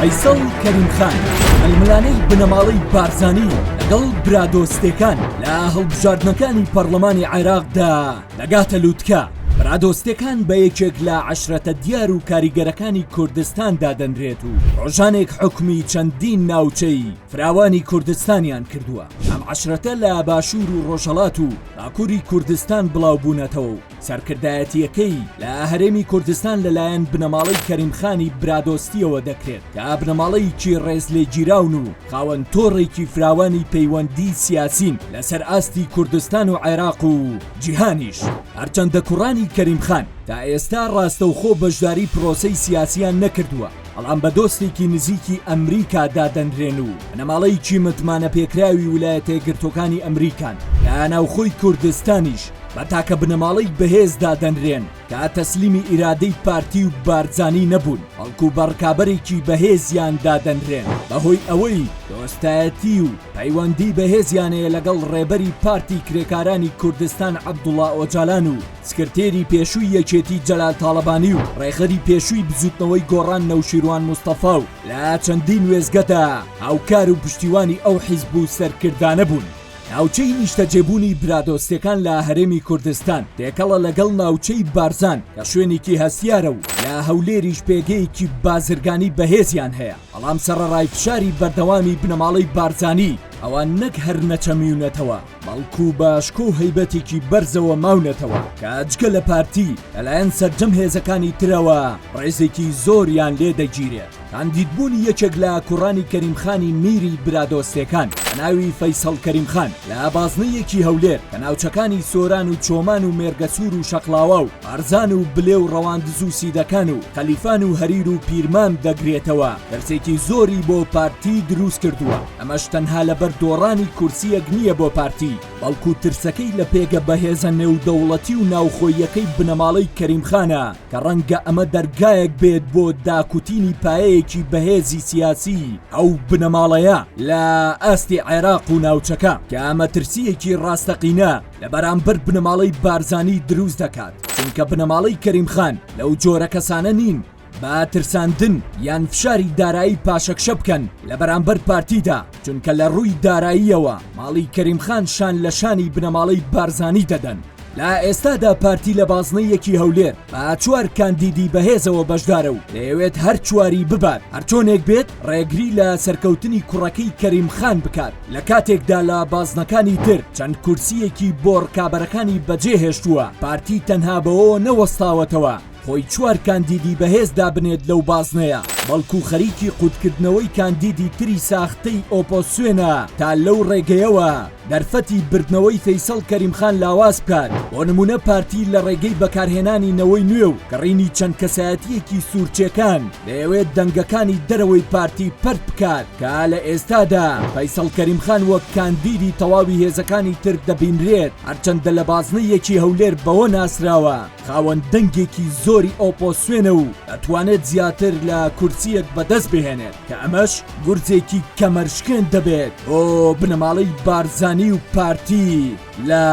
فەیسەڵ کەریم خان ململانێی بنەماڵەی بارزانی لەگەڵ برادۆستەکان لە هەڵبژاردنەکانی پەرلەمانی عێراقدا دەگاتە لووتکە برادۆستەکان بە یەکێک لە عشرەتە دیار و کاریگەرەکانی کوردستان دادەنرێت و ڕۆژانێک حکومی چەندین ناوچەی فراوانی کوردستانیان کردووە ئەم عەشرەتە لە باشوور و ڕۆژهەڵات و باکووری کوردستان بڵاو بوونەتەوە و سەرکردایەتیەکەی لە هەرێمی کوردستان لەلایەن بنەماڵەی کەریم خانی برادۆستیەوە دەکرێت کە بنەماڵەیەکی ڕێزلێگیراون و خاوەن تۆڕێکی فراوانی پەیوەندی سیاسین لەسەر ئاستی کوردستان و عێراق و جیهانیش هەرچەندە کوڕانی کەریم خان تا ئێستا ڕاستەوخۆ بەشداری پرۆسەی سیاسیان نەکردووە بەڵام بە دۆستێکی نزیکی ئەمریکا دادەنرێن و بنەماڵەیەکی متمانە پێکراوی ولایەتەیەکگرتوەکانی ئەمریکان لە ناوخۆی کوردستانیش بە تاکە بنەماڵەی بەهێز دادەنرێن کە تەسلیمی ئیرادەی پارتی و بارزانی نەبوون بەڵکو بە ڕکابەرێکی بەهێزیان دادەنرێن بەهۆی ئەوەی دۆستایەتی و پەیوەندی بەهێزیانەیە لەگەڵ ڕێبەری پارتی کرێکارانی کوردستان عەبدوڵا ئۆجالان و سکرتێری پێشووی یەکێتی جەلال تاڵەبانی و ڕێخەری پێشووی بزوتنەوەی گۆڕان نەوشیروان مستەفا و لە چەندین وێزگەدا هاوکار و پشتیوانی ئەو حیزب و سەرکردانە بوون. ناوچەی نیشتەجێبوونی برادۆستەکان لە هەرێمی کوردستان تێکەڵە لەگەڵ ناوچەی بارزان کە شوێنێکی هەستیارە و لە هەولێریش پێگەیەکی بازرگانی بەهێزیان هەیە بەڵام سەرەڕای فشاری بەردەوامی بنەماڵەی بارزانی ئەوان نەک هەر نەچەمیونەتەوە بەڵکو بە شکۆ و هەیبەتێکی بەرزەوە ماونەتەوە کە جگە لە پارتی لەلایەن سەرجەم هێزەکانی ترەوە ڕێزێکی زۆریان لێ دەگیرێت کاندیدبوونی یەکێک لە کوڕانی کەریمخانی میری برادۆستەکان بە ناوی فەیسەڵ کەریمخان لە بازنەیەکی هەولێر کە ناوچەکانی سۆران و چۆمان و مێرگەسوور و شەقلاوا و ئارزان و بلێ و ڕەواندز و سیدەکان و خەلیفان و هەریر و پیرمان دەگرێتەوە دەرسێکی زۆری بۆ پارتی دروست کردووە. ئەمەش تەنها لەبەر دۆڕانی کورسییەک نییە بۆ پارتی، بەڵکو ترسەکەی لە پێگە بەهێزە نێودەوڵەتی و ناوخۆییەکەی بنەماڵەی کەریم خانە کە ڕەنگە ئەمە دەرگایەک بێت بۆ داکوتینی پایەیەکی بەهێزی سیاسی ئەو بنەماڵەیە لە ئاستی عێراق و ناوچەکە کە ئەمە ترسییەکی ڕاستەقینە لە بەرامبەر بنەماڵەی بارزانی دروست دەکات چونکە بنەماڵەی کەریم خان لەو جۆرە کەسانە نین با ترساندن یان فشاری دارایی پاشەکشە بکەن لە بەرامبەر پارتیدا چونکە لە ڕووی داراییەوە ماڵی کەریمخان شان لە شانی بنەماڵەی بارزانی دەدەن لە ئێستادا پارتی لە بازنەیەکی هەولێر با چوار کاندیدی بەهێزەوە بەشدارە و دەیەوێت هەر چواری ببات هەرچۆنێک بێت ڕێگری لە سەرکەوتنی کوڕەکەی کەریم خان بکات لە کاتێکدا لە بازنەکانی تر چەند کورسیەکی بۆڕکابەرەکانی بەجێهێشتووە پارتی تەنها بەوەوە نەوەستاوەتەوە خۆی چوار کاندیدی بەهێز دابنێت لەو بازنەیە، بەڵکو خەریکی قوتکردنەوەی کاندیدی تری ساختەی ئۆپۆسیۆنە تا لەو ڕێگەیەوە دەرفەتی بردنەوەی فەیسەڵ کەریم خان لاواز بکات، بۆ نمونە پارتی لە ڕێگەی بەکارهێنانی نەوەی نوێ و کڕینی چەند کەسایەتیەکی سورچێکان دەیەوێت دەنگەکانی دەرەوەی پارتی پەرت بکات کە لە ئێستادا فەیسەڵ کەریم خان وەک کاندیدی تەواوی هێزەکانی تر دەبینرێت هەرچەندە لە بازنە یەکی هەولێر بەوە ناسراوە خاوەن دەنگێکی زۆری ئۆپۆسیۆنە و ئەتوانێت زیاتر لە کورسییەک بەدەست بهێنێت کە ئەمەش گورزێکی کەمەرشکێن دەبێت بۆ بنەماڵەی بارزانی و پارتی لە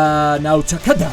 ناوچەکەدا.